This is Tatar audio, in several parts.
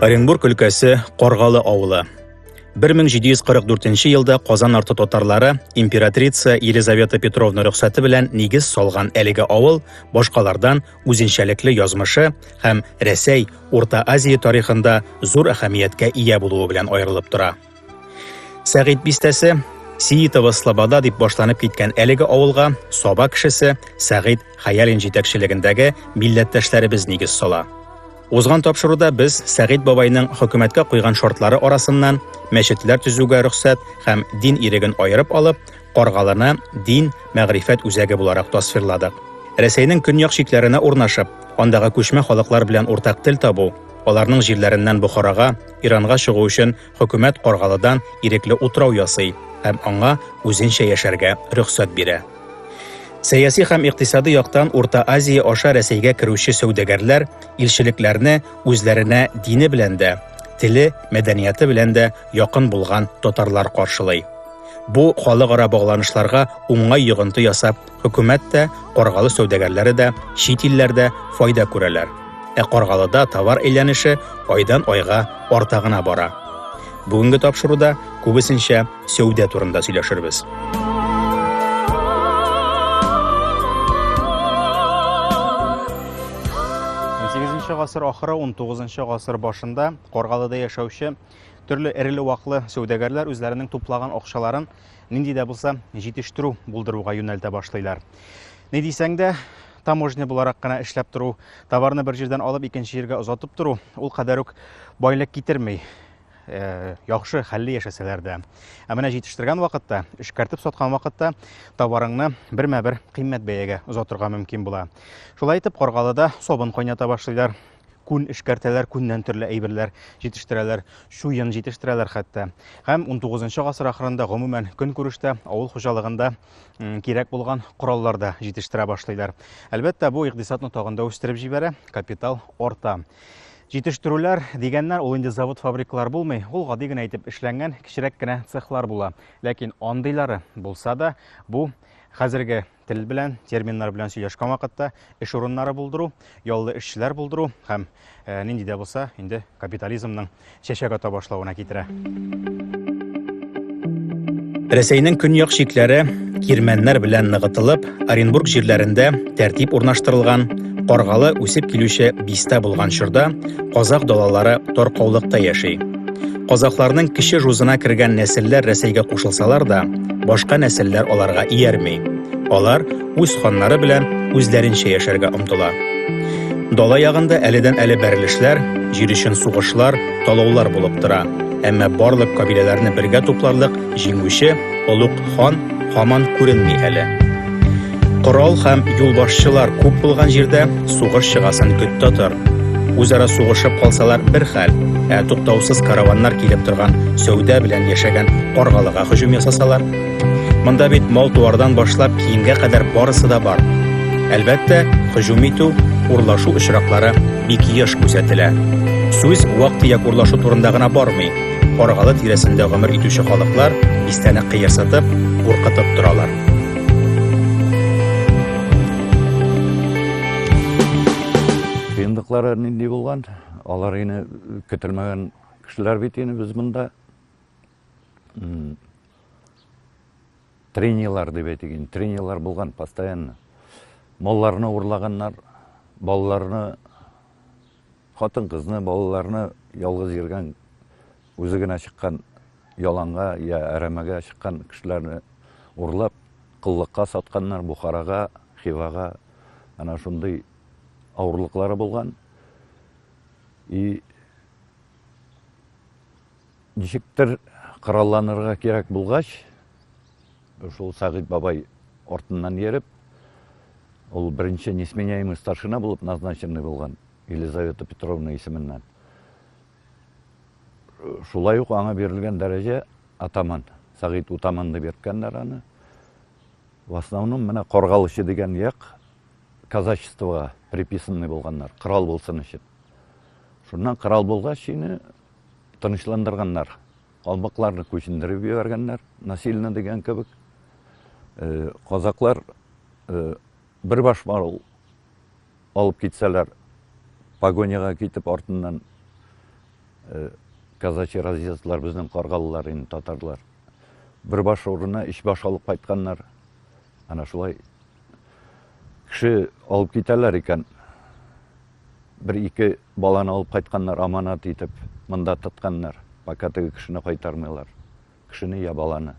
Оренбург өлкәсе Каргалы авылы. 1744 елда Казан арты татарлары императрица Елизавета Петровна рөхсәте белән нигез салган әлеге авыл башкалардан үзенчәлекле язмышы һәм Рәсәй, Урта Азия тарихында зур әһәмияткә ия булуы белән аерылып тора. Сәгыйть бистәсе Сиитова Слобода дип башланып киткән әлеге авылга Саба кешесе Сәгыйть Хаялин җитәкчелегендәге милләттәшләребез нигез сала. Узган тапшыруда без Сәгыйть бабайның хөкүмәткә куйган шартлары арасыннан мәчетләр төзүгә рөхсәт һәм дин иреген аерып алып, Каргалыны дин, мәгърифәт үзәге буларак тасвирладык. Рәсәйнең көньяк чикләренә урнашып, андагы күчмә халыклар белән уртак тел табу, аларның җирләреннән Бохарага, Иранга чыгу өчен хөкүмәт Каргалыдан ирекле утрау ясый һәм аңа үзенчә яшәргә рөхсәт бирә. Сәяси һәм икътисади яктан Урта Азия аша Рәсәйгә керүче сәүдәгәрләр илчелекләрне үзләренә дине белән дә, теле, мәдәнияты белән дә якын булган татарлар каршылый. Бу халыкара багланышларга уңай йогынты ясап, хөкүмәт тә, каргалы сәүдәгәрләре дә, чит илләрдә файда күрәләр. Ә Каргалыда товар әйләнеше айдан-айга арта гына бара. Бүгенге тапшыруда күбесенчә сәүдә турында сөйләшербез. Унсигезенче гасыр ахыры, унтугызынчы гасыр башында Каргалыда яшәүче Төрле эреле-ваклы сәүдәгәрләр үзләренең туплаган акчаларын нинди дә булса җитештерү булдыруга юнәлтә башлыйлар. Ни дисәң дә, таможня буларак кына эшләп тору, товарны бер җирдән алып икенче җиргә озатып тору ул кадәр үк байлык китерми. Э, яхшы хәлле яшәсәләр дә. Ә менә җитештергән вакытта, эшкәртеп саткан вакытта товарыңны бермә-бер кыйммәт бәягә озатырга мөмкин була. Шулай итеп, Каргалыда сабын кайната башлыйлар. күн эшкәртәләр, күннән төрле әйберләр җитештерәләр, чуен җитештерәләр хәтта. Һәм 19 гасыр ахырында гомумән көнкүрештә авыл хуҗалыгында кирәк булган кораллар да җитештерә башлыйлар. Әлбәттә, бу икъдисадны тагын да үстереп җибәрә, капитал арта. Җитештерүләр дигәннәр, ул инде завод-фабрикалар булмый, ул гади генә итеп эшләнгән кечерәк кенә цехлар була. Ләкин андыйлары булса да, бу хәзерге тел белән, терминнар белән сөйләшкән вакытта эш урыннары булдыру, яллы эшчеләр булдыру һәм э, нинди дә булса инде капитализмның чәчәк ата башлавына китерә. Рәсәйнең көньяк чикләре кирмәннәр белән ныгытылып, Оренбург җирләрендә тәртип урнаштырылган, каргалы үсеп килүче бистә булган чорда казах далалары таркаулыкта яши. Казакларның кече жузына кергән нәселләр Рәсәйгә кушылсалар да, башка нәселләр аларга иярми. Алар үз ханнары белән үзләренчә яшәргә омтыла. Дала ягында әледән әле бәрелешләр, җир өчен сугышлар, талаулар булып тора. Әмма барлык кабиләләрне бергә тупларлык җиңүче олуг хан һаман күренми әле. Корал һәм юлбашчылар күп булган җирдә сугыш чыгасын көт татыр. Үзара сугышып калсалар бер хәл, ә туктаусыз караваннар килеп торган сәүдә белән яшәгән Аргалыга һөҗүм ясасалар. Монда бит мал-туардан башлап киемгә кадәр барысы да бар. Әлбәттә, һөҗүм итү, урлашу очраклары бик еш күзәтелә. Сүз вак-төяк урлашу турында гына бармый. Аргалы тирәсендә гомер итүче халыклар бистәне кыерсытып, куркытып торалар. Кыенлыклары нинди булган? Алар ине көтелмәгән кешеләр бит ине без монда. Тренерлар дип әйтик, тренерлар булган постоянно. Малларны урлаганнар, балаларны Хатын-кызны, балаларны ялгыз йөргән, үзе генә чыккан яланга йә әрәмәгә чыккан кешеләрне урлап, коллыкка сатканнар, Бухарага, Хивага, әнә шундый авырлыклары булган. И Ничектер коралланырга кирәк булгач, шул Сәгыйть бабай артыннан йөреп, ул беренче несменяемый старшина булып назначенный булган Елизавета Петровна исеменнән. Шулай ук аңа бирелгән дәрәҗә атаман, Сәгыйть утаман дип йөрткәннәр аны. В основном менә Коргалычы дигән як казачествога приписанный булганнар, корал булсын өчен. Шуннан корал булгач, ины Тынычландырганнар. Калмыкларны күчендереп җибәргәннәр, насильно дигән кебек. Казаклар бер баш марул алып китсәләр, погоняга китеп артыннан казачий разъездлар безнең каргалылар инде татарлар. Бер баш урынына өч баш алып кайтканнар. Ана шулай кеше алып китәләр икән. Бер-ике баланы алып кайтканнар, аманат итеп, монда тотканнар, пока теге кешене кайтармыйлар. Кешене я баланы.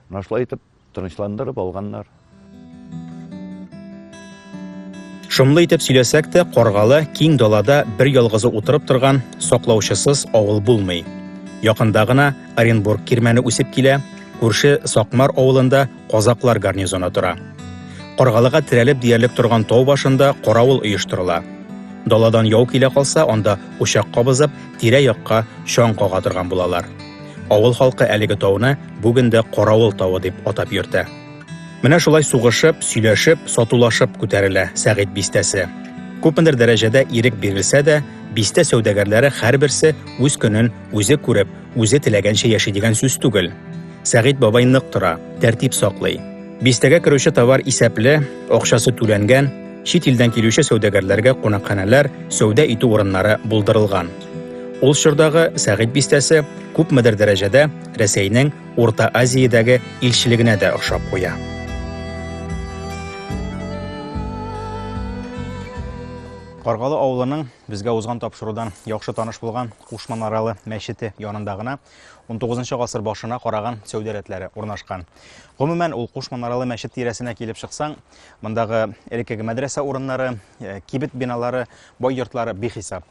Менә шулай итеп, тынычландырып алганнар. Шомлы итеп сөйләсәк тә, каргалы, киң далада бер ялгызы утырып торган, саклаучысыз авыл булмый. Якында гына Оренбург кирмәне үсеп килә, күрше Сакмар авылында казаклар гарнизоны тора. Каргалыга терәлеп диярлек торган тау башында каравыл оештырыла. Даладан яу килә калса, анда учак кабызып, тирә-якка чаң кага торган булалар. Авыл халкы әлеге тауны бүген дә Каравыл тавы дип атап йөртә. Менә шулай сугышып, сөйләшеп, сатулашып күтәрелә Сәгыйть бистәсе. Күпмедер дәрәҗәдә ирек бирелсә дә, бистә сәүдәгәрләре һәрберсе үз көнен Үзе күреп, үзе теләгәнчә яши дигән сүз түгел. Сәгыйть бабай нык тора, тәртип саклый. Бистәгә керүче товар исәпле, акчасы түләнгән, чит илдән килүче сәүдәгәрләргә кунакханәләр, сәүдә итү урыннары булдырылган. Ул чордагы Сәгыйть бистәсе күпмедер дәрәҗәдә Рәсәйнең Урта Азиядәге илчелегенә дә охшап куя. Каргалы авылының Безгә узган тапшырудан яхшы таныш булган Куш Манаралы мәчете янында гына 19 гасыр башына караган сәүдә рәтләре урнашкан. Гомумән, ул Куш Манаралы мәчет тирәсенә килеп чыксаң, мондагы элеккеге мәдрәсә урыннары, э, кибет биналары, бай йортлары бихисап.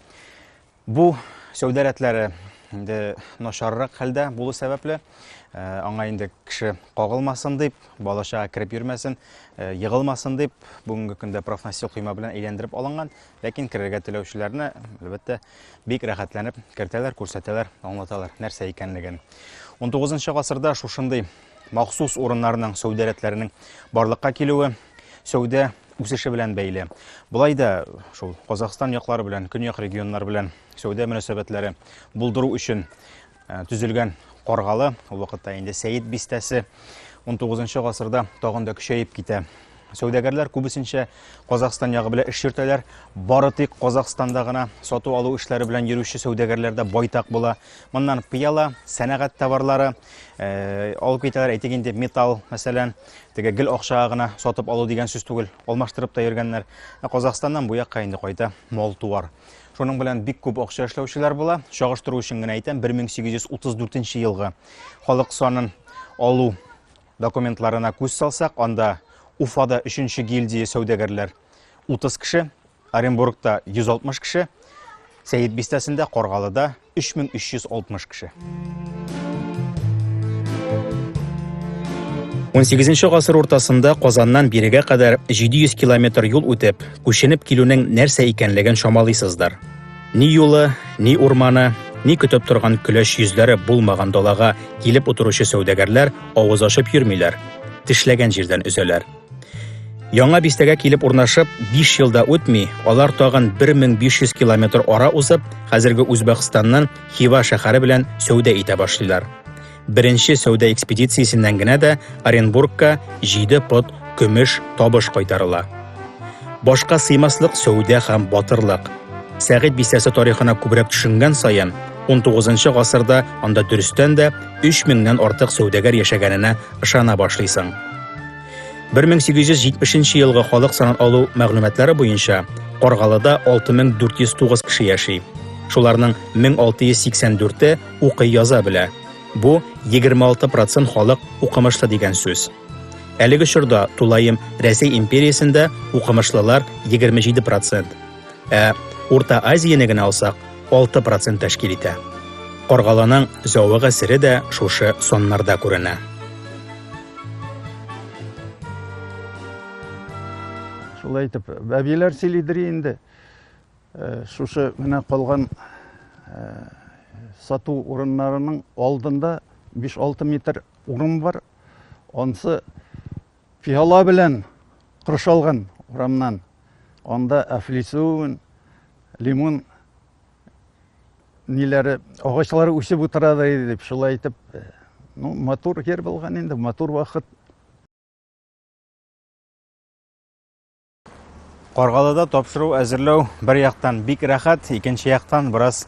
Бу сәүдә рәтләре инде начаррак хәлдә булу сәбәпле, э, аңа инде кеше кагылмасын дип, балачага кереп йөрмәсен, э, егылмасын дип, бүгенге көндә профнастил койма белән әйләндереп алынган Ләкин керергә теләүчеләрне, әлбәттә, бик рәхәтләнеп кертәләр, күрсәтәләр, аңлаталар, нәрсә икәнлеген. 19 гасырда шушындый махсус урыннарның, сәүдә рәтләренең барлыкка килүе сәүдә үсеше белән бәйле. Болай да шул Казахстан яклары белән, көньяк регионнар белән сәүдә мөнәсәбәтләре булдыру өчен Ә, төзелгән Каргалы, ул вакытта инде Сәет бистәсе 19 гасырда тагын да көчәеп китә. Сәүдәгәрләр күбесенчә Казахстан ягы белән эш йөртәләр. Бары тик Казахстанда гына сату алу эшләре белән йөрүче сәүдәгәрләр дә байтак була. Моннан пыяла, сәнәгать товарлары э, алып китәләр. Әйтик инде металл, мәсәлән, теге гел акчага гына сатып алу дигән сүз түгел, алмаштырып та йөргәннәр. Ә Казахстаннан бу якка инде кайта мал-туар. Шуның белән бик күп акча эшләүчеләр була. Чагыштыру өчен генә әйтәм, 1834 елгы халык санын алу документларына күз салсак, анда Уфада 3 гильдия сәүдәгәрләр 30 кеше, Оренбургта 160 кеше, Сәет бистәсендә, Каргалыда 3360 кеше. 18 нче гасыр уртасында Казаннан бирегә кадәр 700 километр юл үтеп, күченеп килүнең нәрсә икәнлеген чамалыйсыздыр. Ни юлы, ни урманы, ни көтеп торган көләч йөзләре булмаган далага килеп утыручы сәүдәгәрләр авыз ачып йөрмиләр, тешләгән җирдән өзәләр. Яңа бистәгә килеп урнашып, 5 елда үтми, алар тагын 1500 километр ара узып, хәзерге Үзбәкстаннан Хива шәһәре белән сәүдә итә башлыйлар. Беренче сәүдә экспедициясеннән генә дә Оренбургка 7 пот көмеш табыш кайтарыла. Башка сыймаслык сәүдә һәм батырлык. Сәгыйть бистәсе тарихына күбрәк төшенгән саен, 19 гасырда анда дөрестән дә 3000 нән артык сәүдәгәр яшәгәненә ышана башлыйсың. 1870 елгы халык санын алу мәгълүматлары буенча Каргалыда 6409 кеше яши. Шуларның 1684-е укый яза белә. Бу 26% халык укымышлы дигән сүз. Әлеге чорда тулаем Рәсәй империясендә укымышлылар 27%. Ә Урта Азияне генә алсак, 6 процент тәшкил итә. Каргаланың зәвык әсере дә шушы саннарда күренә. Шулай итеп, бәбиләр сөйлидер инде. Э, шушы менә калган э, сату урыннарының алдында 5-6 метр урын бар. Ансы Пиала белән коршалган урамнан анда афлисун, лимон ниләре агачлары үсеп утыра да иде дип шулай итеп э, ну матур җир булган инде матур вакыт Каргалыда тапшыру әзерләү бер яктан бик рәхәт, икенче яктан бераз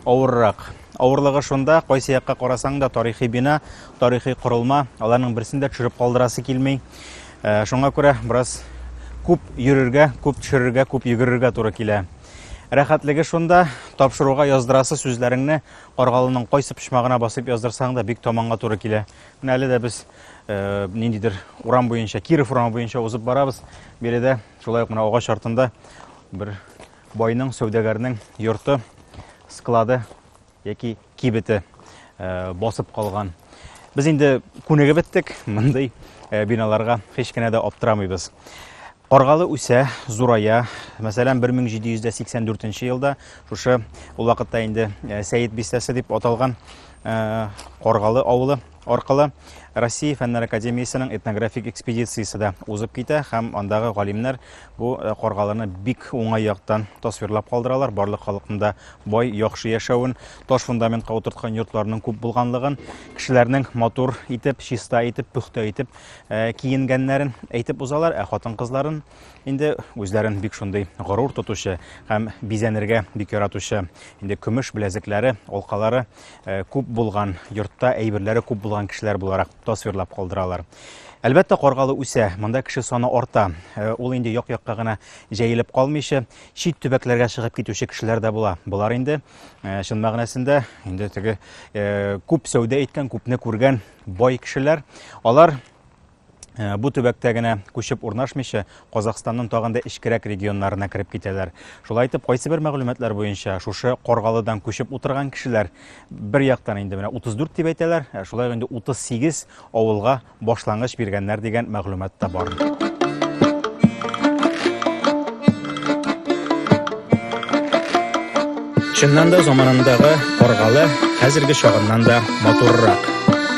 авыррак. Авырлыгы шунда, кайсы якка карасаң да тарихи бина, тарихи корылма, аларның берсен дә төшереп калдырасы килми. Э, шуңа күрә бераз күп йөрергә, күп төшерергә, күп йөгерергә туры килә. Рәхәтлеге шунда, тапшыруга яздырасы сүзләреңне Каргалының кайсы почмагына басып яздырсаң да бик таманга туры килә. Менә әле дә без ниндидер урам буенча, Киров урамы буенча узып барабыз. Биредә шулай ук менә агач артында бер байның, сәүдәгәрнең йорты, склады яки кибете басып калган. Без инде күнегеп беттек мондый биналарга, һич кенә дә аптырамыйбыз. Каргалы үсә, зурая. Мәсәлән, 1784 елда шушы ул вакытта инде Сәет бистәсе дип аталган Каргалы авылы аркылы Россия фәннәр академиясенең этнографик экспедициясе дә узып китә һәм андагы галимнәр бу э, каргаларны бик уңай яктан тасвирлап калдыралар. Барлык халыкның да бай, яхшы яшәвен, таш фундаментка утырткан йортларның күп булганлыгын, кешеләрнең матур итеп, чиста итеп, пөхтә итеп э, киенгәннәрен әйтеп узалар, ә хатын-кызларын Инде үзләрен бик шундый горур тотучы һәм бизәнергә бик яратучы, инде көмеш беләзекләре, алкалары э, күп булган, йортта әйберләре күп булган кешеләр буларак тасвирлап калдыралар. Әлбәттә, Каргалы үсә, монда кеше саны арта. Э, ул инде як-якка гына җәелеп калмыйча, чит төбәкләргә чыгып китүче кешеләр дә була. Болар инде э, чын мәгънәсендә инде теге күп сәүдә иткән, күпне күргән бай кешеләр. Алар Э, бу төбәктә генә күчеп урнашмыйча Казахстанның тагын да эчкерәк регионнарына кереп китәләр. Шулай итеп, кайсы бер мәгълүматлар буенча шушы Коргалыдан күчеп утырган кешеләр бер яктан инде менә 34 дип әйтәләр, ә шулай инде 38 авылга башлангыч биргәннәр дигән мәгълүмат та бар. Чыннан да заманындагы каргалы хәзерге чагыннан да матуррак.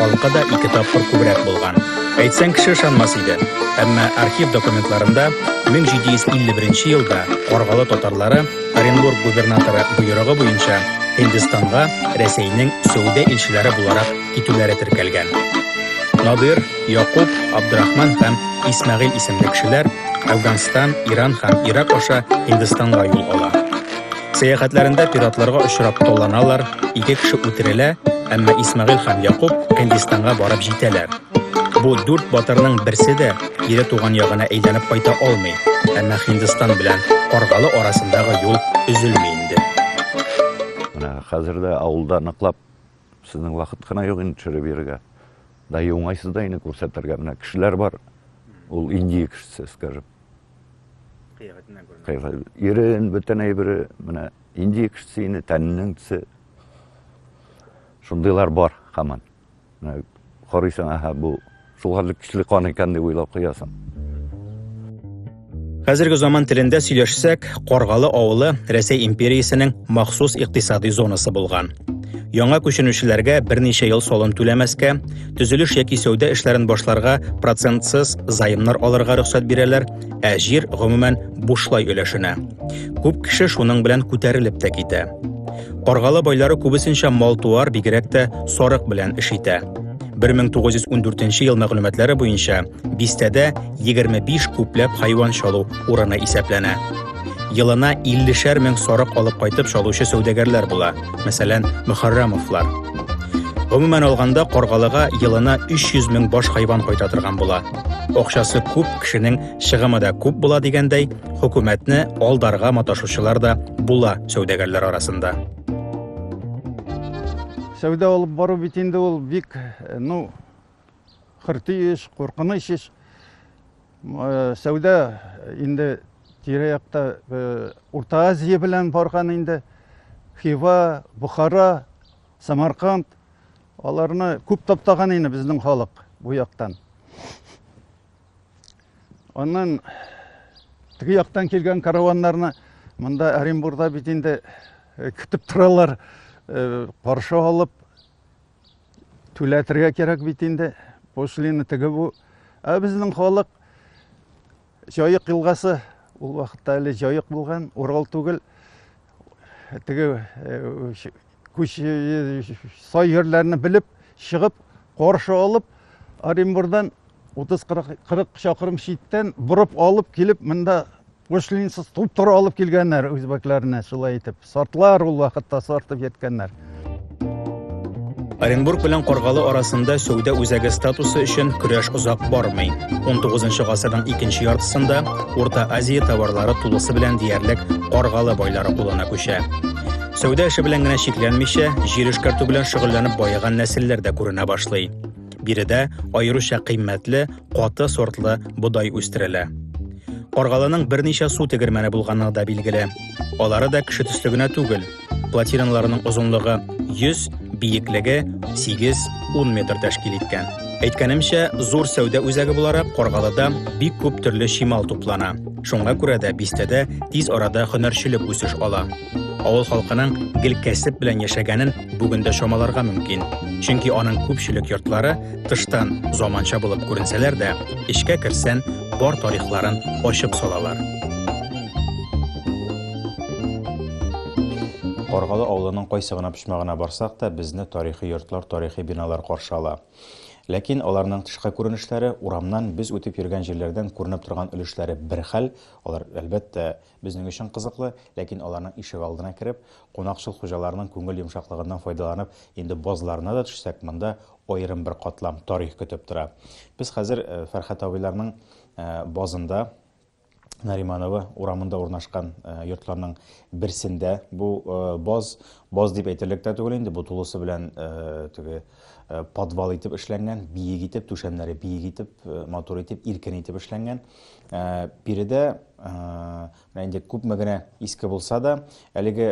Алка да ике тапкыр күбрәк булган. Әйтсәң кеше ышанмас иде. Әмма архив документларында 1751 елда каргалы татарлары Оренбург губернаторы боерыгы буенча Һиндстанга Рәсәйнең сәүдә илчеләре буларак китүләре теркәлгән. Надир, Якуб, Абдрахман һәм Исмәгыйль исемле кешеләр Әфганстан, Иран һәм Ирак аша Һиндстанга юл ала. Сәяхәтләрендә пиратларга очрап таланалар, ике кеше үтерелә, әмма Исмәгыйль һәм Якуб Һиндистанга барып җитәләр. Бу дүрт батырның берсе дә кире туган ягына әйләнеп кайта алмый, әмма Һиндстан белән Каргалы арасындагы юл өзелми инде. Менә хәзер дә авылда ныклап сезнең вакыт кына юк инде төшереп йөрергә. Да и уңайсыз да инде күрсәтергә. Менә кешеләр бар. Ул Индия кешесе, скажем. Кыяфәтеннән күренә. Кыяфәт. Ирен, бөтен әйбере, менә инди кешесе инде, тәненең төсе. Шундыйлар бар хаман. Менә карыйсың, аһа, бу шул хәтле көчле кан икән дип уйлап куясың. Хәзерге заман телендә сөйләшсәк, Каргалы авылы Рәсәй империясенең махсус икътисадый зонасы булган. Яңа күченүчеләргә берничә ел салым түләмәскә, төзелеш яки сәүдә эшләрен башларга процентсыз займнар алырга рөхсәт бирәләр, ә җир гомумән бушлай өләшенә. Күп кеше шуның белән күтәрелеп тә китә. Каргалы байлары күбесенчә мал-туар, бигрәк тә сарык белән эш итә. 1914 ел мәгълүматлары буенча Бистәдә 25 күпләп хайван чалу урыны исәпләнә. Елына 50-шәр мең сарык алып кайтып чалучы сәүдәгәрләр була, мәсәлән, Мөхәррәмовлар. Гомумән алганда, Каргалыга елына 300 мең баш хайван кайта торган була. Акчасы күп, кешенең чыгымы да күп була дигәндәй, хөкүмәтне алдарга маташучылар да була сәүдәгәрләр арасында. Сәүдә алып бару бит инде ул бик, ну, Хөрти еш, куркыныч еш. Э, сәүдә инде тирә-якта э, Урта Азия белән барган инде. Хива, Бухара, Самарканд аларны күп таптаган инде безнең халык бу яктан. Аннан теге яктан килгән караваннарны монда Оренбургда бит инде э, көтеп торалар, каршы алып Түләтергә кирәк бит инде. Пошлина теге бу. Ә безнең халык Җаек елгасы ул вакытта әле Җаек булган, Урал түгел. Теге э, күч э, сай җирләрне белеп, чыгып, каршы алып Оренбурдан 30-40 чакрым читтән борып алып килеп, монда пошлинсыз туп-туры алып килгәннәр үзбәкләрне, шулай итеп. Сартлар ул вакытта сартып йөрткәннәр. Оренбург белән Каргалы арасында сәүдә үзәге статусы өчен көрәш озак бармый. 19 гасырның икенче яртысында Урта Азия товарлары тулысы белән диярлек Каргалы байлары кулына күчә. Сәүдә эше белән генә чикләнмичә, җир эшкәртү белән шөгыльләнеп баеган нәселләр дә күренә башлый. Биредә аеруча кыйммәтле, каты сортлы бодай үстерелә. Каргалының берничә су тегермәне булганы да билгеле. Алары да кеше төсле генә түгел. Платиналарының озынлыгы 100, биеклеге 8-10 метр тәшкил иткән. Әйткәнемчә, зур сәүдә үзәге буларак Каргалыда бик күп төрле чимал туплана. Шуңа күрә дә бистәдә тиз арада һөнәрчелек үсеш ала. Авыл халкының гел кәсеп белән яшәгәнен бүген дә чамаларга мөмкин. Чөнки аның күпчелек йортлары тыштан заманча булып күренсәләр дә, эчкә керсән, бар тарихларын ачып салалар. Каргалы авылының кайсы гына почмагына барсак та, безне тарихи йортлар, тарихи биналар каршы ала. Ләкин аларның тышкы күренешләре урамнан без үтеп йөргән җирләрдән күренеп торган өлешләре бер хәл, алар әлбәттә Безнең өчен кызыклы, ләкин аларның ишегалдына кереп, кунакчыл хуҗаларның күңел йомшаклыгыннан файдаланып, инде базларына да төшсәк, монда аерым бер катлам, тарих көтеп тора. Без хәзер Фәрхәт абыйларның базында, Нариманово урамында урнашкан йортларның берсендә. Бу баз, баз дип әйтерлек тә түгел инде, бу тулысы белән теге Э, подвал итеп эшләнгән, биек итеп, түшәмнәре биек итеп, э, матур итеп, иркен итеп эшләнгән. Э, биредә менә инде күпме генә иске булса да, әлеге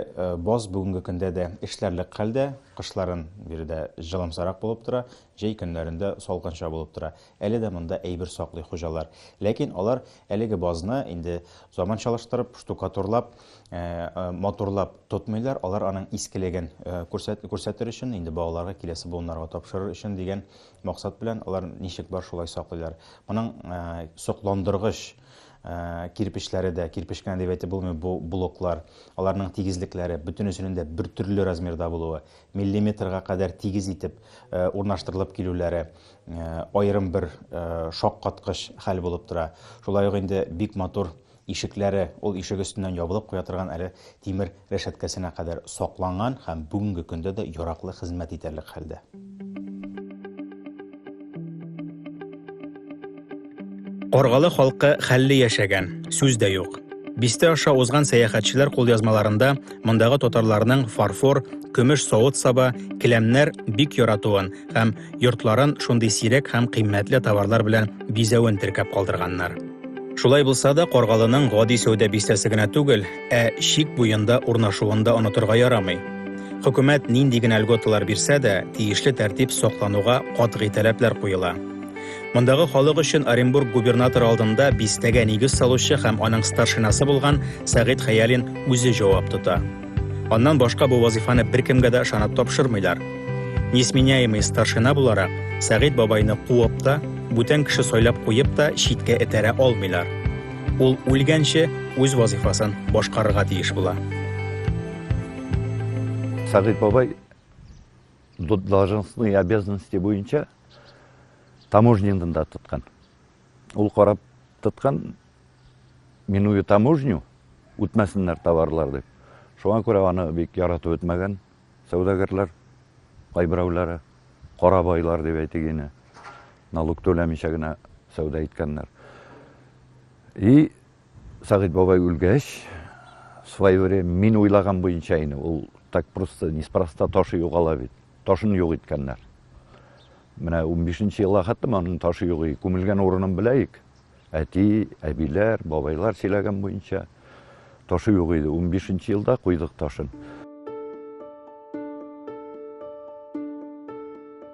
боз бүгенге көндә дә эшләрлек хәлдә, кышларын биредә җылымсарак булып тора, җәй көннәрендә салкынча булып тора. Әле дә монда әйбер саклый хуҗалар. Ләкин алар әлеге бозны инде заманчалаштырып, штукатурлап, матурлап тотмыйлар, алар аның искелеген күрсәтер өчен, инде балаларга, киләсе буыннарга тапшырыр өчен дигән максат белән алар ничек бар шулай саклыйлар. Моның сокландыргыч кирпечләре дә, кирпеч кенә дип әйтеп булмый бу блоклар, аларның тигезлекләре, бөтенесенең дә бер төрле размерда булуы, миллиметрга кадәр тигез итеп урнаштырылып килүләре аерым бер шаккаткыч хәл булып тора. Шулай ук инде бик матур Ишекләре ул ишек өстеннән ябылып куя торган әле тимер рәшәткәсенә кадәр сакланган һәм бүгенге көндә дә яраклы хезмәт итәрлек хәлдә. Каргалы халкы хәлле яшәгән, сүз дә юк. Бистә аша узган сәяхәтчеләр кулъязмаларында мондагы татарларның фарфор, көмеш савыт-саба, келәмнәр бик яратуын һәм йортларын шундый сирәк һәм кыйммәтле товарлар белән бизәвен теркәп калдырганнар. Шулай булса да, Каргалының гади сәүдә бистәсе генә түгел, ә чик буенда урнашуын да онытырга ярамый. Хөкүмәт нинди генә льготалар бирсә дә, тиешле тәртип саклануга катгый таләпләр куела. Мондагы халык өчен Оренбург губернаторы алдында бистәгә нигез салучы һәм аның старшинасы булган Сәгыйть Хәялин үзе җавап тота. Аннан башка бу вазифаны беркемгә дә ышанып тапшырмыйлар. Несменяемый старшина буларак, Сәгыйть бабайны куып та, бүтән кеше сайлап куеп та читкә этәрә алмыйлар. Ул үлгәнче үз вазифасын башкарырга тиеш була. Сәгыйть бабай должностные обязанности буенча таможнянын да тоткан. Ул карап тоткан, миную таможню, үтмәсеннәр товарлар дип. Шуңа күрә аны бик яратып үтмәгән сәүдәгәрләр, кайберәүләре, кара байлар дип әйтик ине, налог түләмичә генә сәүдә иткәннәр. И Сагыйд бабай үлгәч, свое время мин уйлаган буенча ине, ул так просто, неспроста ташы югала бит. Ташын юк иткәннәр. Менә унбишенче елга хәтлем аның ташы юк иде. Күмелгән урынын беләек. Әти, әбиләр, бабайлар сөйләгән буенча ташы юк иде. Унбишенче елда куйдык ташын.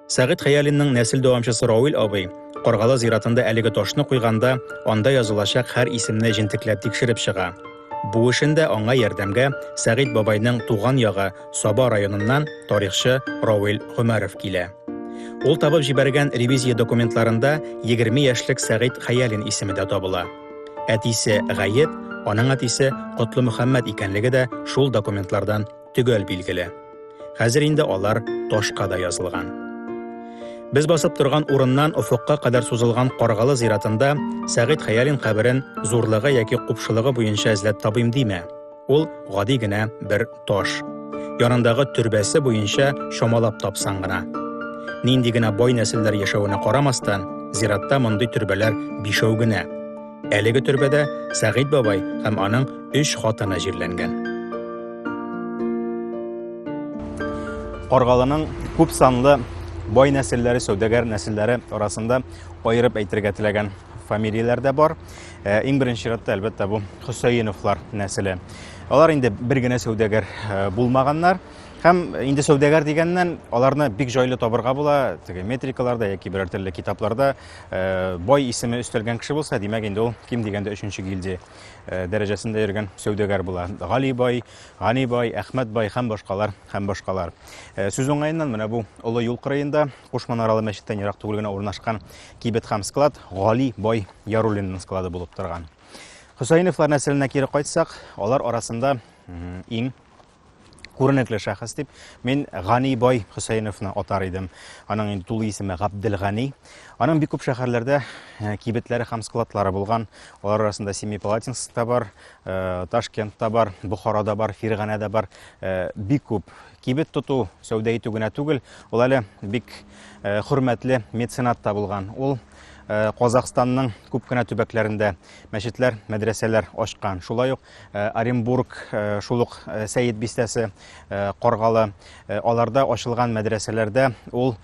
Сәгыйть Хәялинның нәсел дәвамчысы Рауил абый Каргалы зиратында әлеге ташны куйганда, анда язылачак һәр исемне җентекләп тикшереп чыга. Бу эшен дә аңа ярдәмгә Сәгыйть бабайның туган ягы Саба районыннан тарихчы Рауил Гомәров килә. Ул табып җибәргән ревизия документларында 20 яшьлек Сәгыйть Хәялин исеме дә табыла. Әтисе Гаеп, аның әтисе Котлымөхәммәт икәнлеге дә шул документлардан төгәл билгеле. Хәзер инде алар ташка да язылган. Без басып торган урыннан офыкка кадәр сузылган Каргалы зиратында Сәгыйть Хәялин каберен зурлыгы яки купшылыгы буенча эзләп табыйм димә. Ул гади генә бер таш. Янындагы төрбәсе буенча чамалап тапсаң гына. Нинди генә бай нәселләр яшәвенә карамастан, зиратта мондый төрбәләр бишәү генә. Әлеге төрбәдә Сәгыйть бабай һәм аның өч хатыны җирләнгән. Каргалының күп санлы бай нәселләре, сәүдәгәр нәселләре арасында айырып әйтергә теләгән фамилияләр дә бар. Э, иң беренче чиратта, әлбәттә, бу Хөсәеновлар нәселе. Алар инде бер генә сәүдәгәр э, булмаганнар. Һәм инде сәүдәгәр дигәннән, аларны бик җайлы табырга була, теге метрикаларда яки берәр төрле китапларда Э, бай исеме өстәлгән кеше булса, димәк инде ул ким дигәндә өченче гильдия э, дәрәҗәсендә йөргән сәүдәгәр була. Гали бай, Гани бай, Әхмәт бай һәм башкалар һәм башкалар. Э, сүз уңаеннан менә бу олы юл кырыенда Куш манаралы мәчеттән ерак түгел генә урнашкан кибет һәм склад Гали бай Яруллинның склады булып торган. Хөсәйновлар нәселенә кире кайтсак, алар арасында иң Күренекле шәхес дип мин Гани бай Хөсәеновны атар идем. Аның инде тулы исеме Габделгани. Аның бик күп шәһәрләрдә э, кибетләре һәм складлары булган. Алар арасында Семипалатинскта бар, э, Ташкентта бар, Бухарада бар, Фирганәдә бар. Э, бик күп кибет тоту, сәүдә итү генә түгел, ул әле бик хөрмәтле меценат та булган. Ул Э, Казахстанның күп кенә төбәкләрендә мәчетләр, мәдрәсәләр ачкан. Шулай ук Э, Оренбург, э, шул ук э, Сәет бистәсе, Каргалы, аларда ачылган мәдрәсәләрдә ул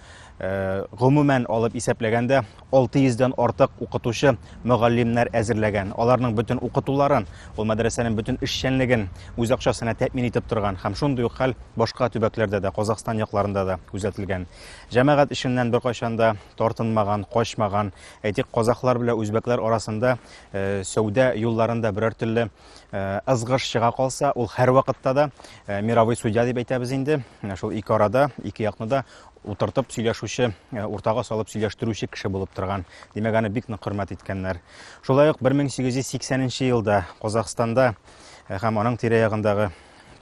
гомумән алып исәпләгәндә 600 дән артык укытучы мөгаллимнәр әзерләгән. Аларның бөтен укытуларын, ул мәдрәсәнең бөтен эшчәнлеген үз акчасына тәэмин итеп торган һәм шундый ук хәл башка төбәкләрдә дә, Казахстан якларында да күзәтелгән. Җәмәгать эшеннән беркайчан да тартынмаган, качмаган, әйтик, казахлар белән үзбәкләр арасында Э, сәүдә юлларында берәр төрле э, ызгыш чыга калса, ул һәрвакытта да э, мировой судья дип әйтәбез инде. Шул ике арада, ике якны да утыртып сөйләшүче, уртага салып сөйләштерүче кеше булып торган. Димәк, аны бик нык хөрмәт иткәннәр. Шулай ук 1880 елда Казахстанда һәм аның тирә-ягындагы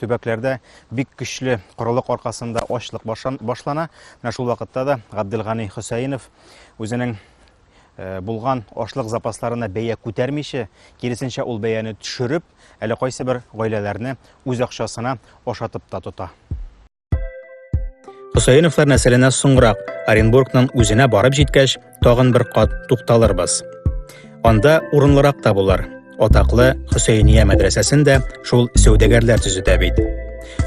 төбәкләрдә бик көчле корылык аркасында ачлык башлана. Менә шул вакытта да Габделгани Хөсәенов үзенең Э, булган ашлык запасларына бәя күтәрмичә, киресенчә ул бәяне төшереп, әле кайсы бер гаиләләрне үз акчасына ашатып та тота. Хөсәеновлар нәселенә соңрак Оренбургның үзенә барып җиткәч, тагын бер кат тукталырбыз. Анда урынлырак та булыр. Атаклы Хөсәйния мәдрәсәсен дә шул сәүдәгәрләр төзетә бит.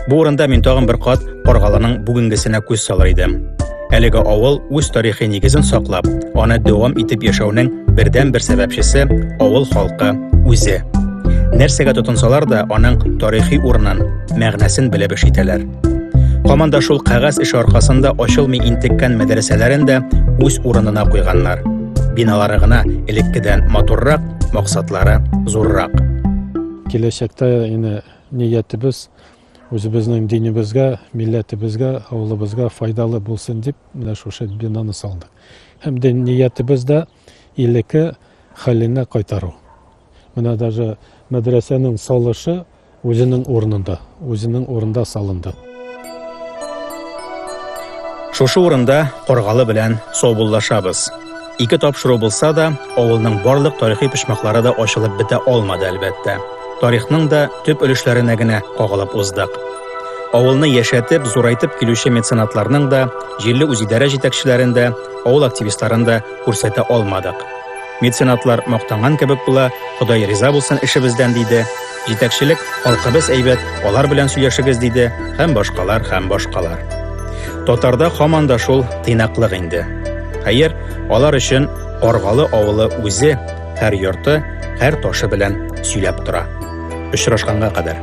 Бу урында мин тагын бер кат Каргалының бүгенгесенә күз салыр идем. Әлеге авыл үз тарихи нигезен саклап, аны дәвам итеп яшәүнең бердән-бер сәбәпчесе авыл халкы үзе. Нәрсәгә тотынсалар да, аның тарихи урынын, мәгънәсен белеп эш итәләр. Һаман да шул кәгазь эше аркасында ачылмый интеккән мәдрәсәләрен дә үз урынына куйганнар. Биналары гына элеккедән матуррак, максатлары зуррак. Киләчәктә инде ниятебез үзебезнең динебезгә, милләтебезгә, авылыбызга файдалы булсын дип, менә шушы бинаны салдык. Һәм дә ниятебез дә илеке хәленә кайтару. Менә даже мәдрәсәнең салышы Үзенең урынында, үзенең урында салынды. Шушы урында Каргалы белән саубуллашабыз. Ике тапшыру булса да, авылның барлык тарихи почмаклары да ачылып бетә алмады, әлбәттә. Тарихның да төп өлешләренә генә кагылып уздык. Авылны яшәтеп, зурайтып килүче меценатларның да, җирле үзидарә җитәкчеләрен дә, авыл активистларын да күрсәтә алмадык. Меценатлар мактанган кебек була, Ходай риза булсын эшебездән диде. Җитәкчелек, халкыбыз әйбәт, алар белән сөйләшегез диде, һәм башкалар, һәм башкалар. Татарда хаман да шул тыйнаклык инде. Хәер, алар өчен Аргалы авылы үзе һәр йорты, һәр ташы белән сөйләп тора. Очрашканга кадәр.